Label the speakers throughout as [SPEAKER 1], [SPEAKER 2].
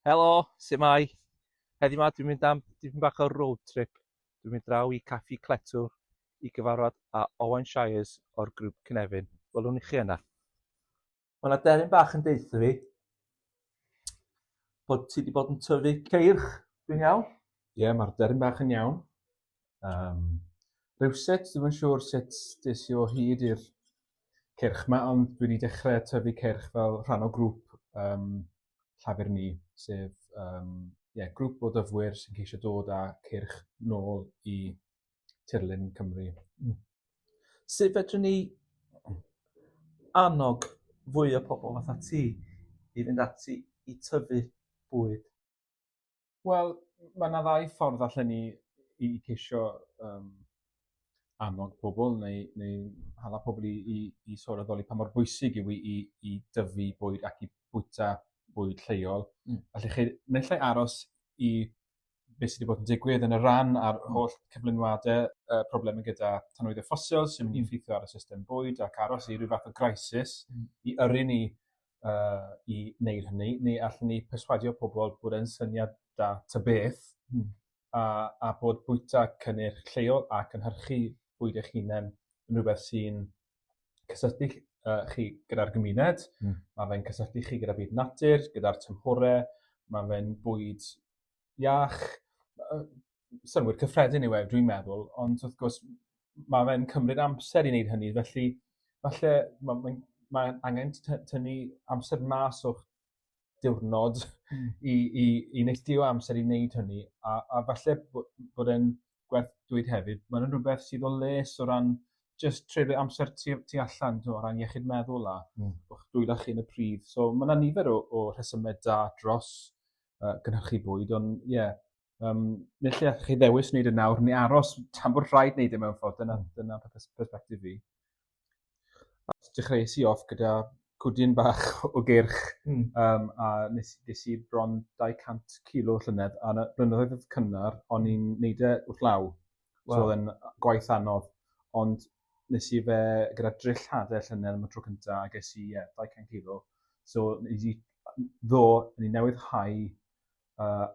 [SPEAKER 1] Helo, sut mae? Heddi ma dwi'n mynd am dipyn bach o road trip. Dwi'n mynd draw i Caffi Cletwr i gyfarfod â Owen Shires o'r grŵp Cynefin. Welwn i chi yna. Mae yna deryn bach yn deitha fi bod ti wedi bod yn tyfu ceirch, dwi'n iawn? Ie, yeah, mae'r deryn
[SPEAKER 2] bach yn iawn. Um, rhywsut, ddim yn siŵr sut des i o hyd i'r cyrch yma, ond dwi wedi dechrau tyfu cyrch fel rhan o grŵp um, llafur ni, sef um, yeah, grŵp o dyfwyr sy'n ceisio dod â cyrch nôl i tirlun Cymru. Mm.
[SPEAKER 1] Sut fedrwn ni annog fwy o pobl fatha ti i fynd ati i tyfu bwyd?
[SPEAKER 2] Wel ma' 'na ddau ffordd allan ni i ceisio yym annog pobol neu neu hala pobol i i i sôn a doli pa mor bwysig yw 'i i i dyfu bwyd ac i bwyta bwyd lleol. Hmm. Felly chi naill ai aros i be' sy 'di bod yn digwydd yn y ran a'r holl cyflenwade yy probleme gyda tanwyddie ffosil sy'n mynd i effeithio ar y system bwyd ac aros i ryw fath o graesus... Hmm. ...i yrru ni uh, i wneud hynny, neu allwn ni perswadio pobl bod yn syniad da ta beth, mm. a, a bod bwyta cynnyrch lleol a cynhyrchu bwyd eich hunain yn rhywbeth sy'n cysylltu uh, chi gyda'r gymuned, mm. mae fe'n cysylltu chi gyda byd natur, gyda'r tymhorau, mae fe'n bwyd iach yy synnwyr cyffredin yw e dwi'n meddwl ond wrth gwrs ma' fe'n cymryd amser i wneud hynny felly falle ma' mae'n mae angen t- t- tynnu amser mas o'ch diwrnod... Hmm. ...i i i neilltuo amser i wneud hynny a a falle bo' bod e'n gwerth dweud hefyd ma' fe'n rwbeth sydd o les o ran jyst treulio amser tu tu allan t'mo' o ran iechyd meddwl a... Hmm. ...o'ch dwylo chi yn y pridd so ma' 'na nifer o o rhesyme da dros uh, gynhyrchu bwyd, ond ie, yeah, um, nid lle allwch chi ddewis wneud y nawr, ni aros tan bod rhaid wneud e mewn ffordd, dyna, hmm. dyna perspektif fi. Dechreuais i off gyda cwdyn bach o gyrch mm. um, a nes, nes i bron 200 kilo llynedd a na, blynyddoedd oedd cynnar, o'n i'n neud e wrth law. Wow. So oedd yn gwaith anodd. Ond nes i fe gyda drill hadau llynedd am y tro cyntaf a ges i yeah, 200 kilo. So nes i ddo, ni newydd hau uh,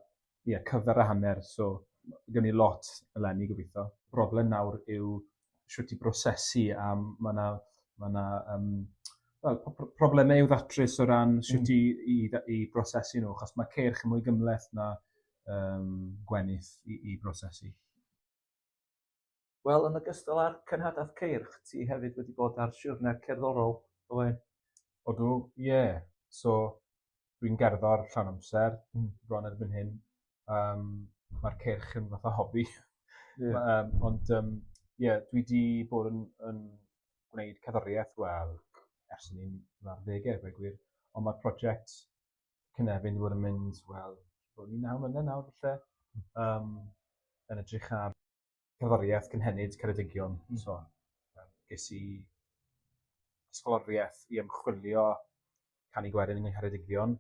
[SPEAKER 2] yeah, cyfer a hanner, so gen i lot eleni gobeithio. Broblem nawr yw sut i brosesu a mae yna ma na, um, well, problemau i'w ddatrys o ran sut mm. i, i, i brosesu nhw, achos mae ceirch yn mwy gymleth na um, gwenith i, i brosesu?
[SPEAKER 1] Wel, yn ogystal â'r cenhadaeth ceirch, ti hefyd wedi bod ar siwrne cerddorol, oe? Odw,
[SPEAKER 2] ie. Yeah. So, dwi'n gerddor llawn amser, mm. bron erbyn hyn. Um, Mae'r ceirch yn fath o hobi. Yeah. um, ond, ie, um, yeah, dwi wedi bod yn, yn gwneud cerddoriaeth, wel, ers ni'n dda'r ddegau, fe gwir. Ond mae'r prosiect cynefin wedi bod yn mynd wel bod ni naw mlynedd nawr falle yym yn edrych ar cerddoriaeth cynhenid Ceredigion hmm. so ges i ysgoloriaeth i ymchwilio canu gwerin yng Ngheredigion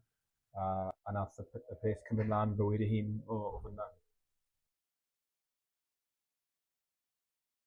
[SPEAKER 2] a, a nath y, y peth cymryd mlaen bywyd ei hun o, o fyna.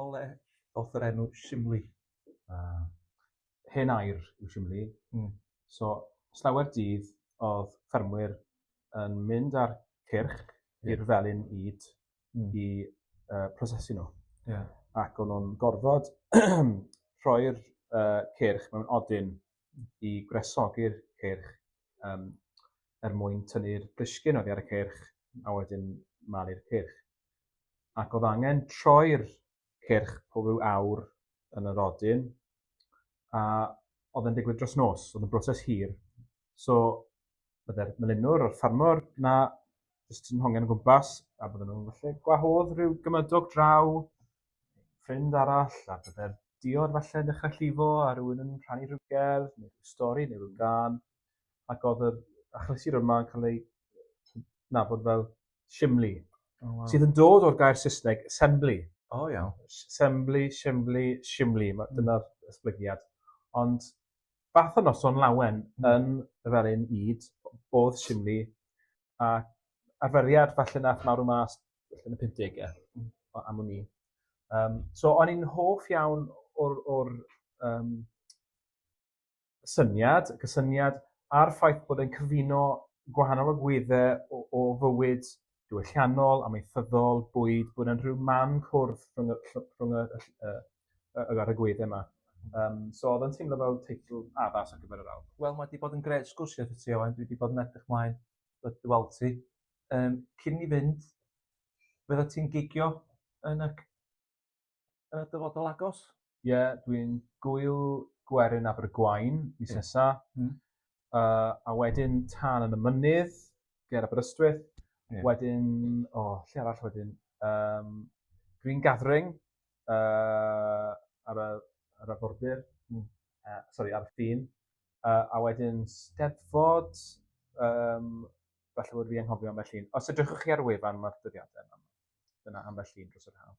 [SPEAKER 1] Ole o'th yr enw Shimli. Ah.
[SPEAKER 2] Hen air yw Shimli. Hmm. So, slawer dydd o'dd ffermwyr yn mynd â'r cyrch i'r felin ŷd hmm. i uh, prosesu nhw. Yeah. Ac o'n nhw'n gorfod rhoi'r uh, cyrch mewn odyn i gwresogi'r ceirch um, er mwyn tynnu'r brisgyn oddi ar y ceirch a wedyn malu'r ceirch. Ac oedd angen troi'r ceirch pob rhyw awr yn yr odyn a oedd yn digwydd dros nos, oedd yn broses hir. So, byddai'r melinwr o'r ffarmwr na jyst ti'n hongen o gwmpas, a bydden nhw'n falle gwahodd rhyw gymydog draw, ffrind arall, a bydde'r diod falle yn dechrau llifo, a rhywun yn rhannu rhyw gerdd, neu rhyw stori, neu rhyw gan, ac oedd yr achlysur yma yn cael ei nabod fel simli, oh, wow. sydd yn dod o'r gair Saesneg assembly. O, oh, iawn.
[SPEAKER 1] Assembly,
[SPEAKER 2] simli, simli, mm. dyna'r esblygiad. Ond fath o noson lawen yn y felin ŷd o'dd Simni a arferiad falle nath marw mas yn y pumpdege hmm. o- am wn i. Yym so o'n i'n hoff iawn o'r o'r yym syniad, y cysyniad a'r ffaith bod e'n cyfuno gwahanol agwedde o o fywyd diwylliannol, amaethyddol, bwyd, bod yn rhyw man cwrdd rhwng y ll- rhwng y y ll- yy y yr arogwydde 'ma. Yym so odd o'n teimlo fel teitl addas ar gyfer yr awd. Wel ma' 'di bod yn grêt
[SPEAKER 1] sgwrsio 'tho ti Owain dwi 'di bod yn edrych mlaen yy dy weld ti. Yym cyn i ni fynd fyddet ti'n gigio yn y c-... yn y dyfodol agos? Ie, dwi'n
[SPEAKER 2] gwyl gwerin Abergwaun mis nesa. Mm. Uh, a wedyn tan yn y mynydd, ger Aberystwyth. Yeah. Wedyn, o, oh, lle arall wedyn? Um, Green Gathering uh, ar, y, ar y bordir. Mm. Uh, sorry, ar y ffin. Uh, a wedyn Steddfod, um, falle bod fi anghofio ambell un. Os ydych chi ar wefan mae'r dyddiadau yna, dyna ambell un dros yr haf.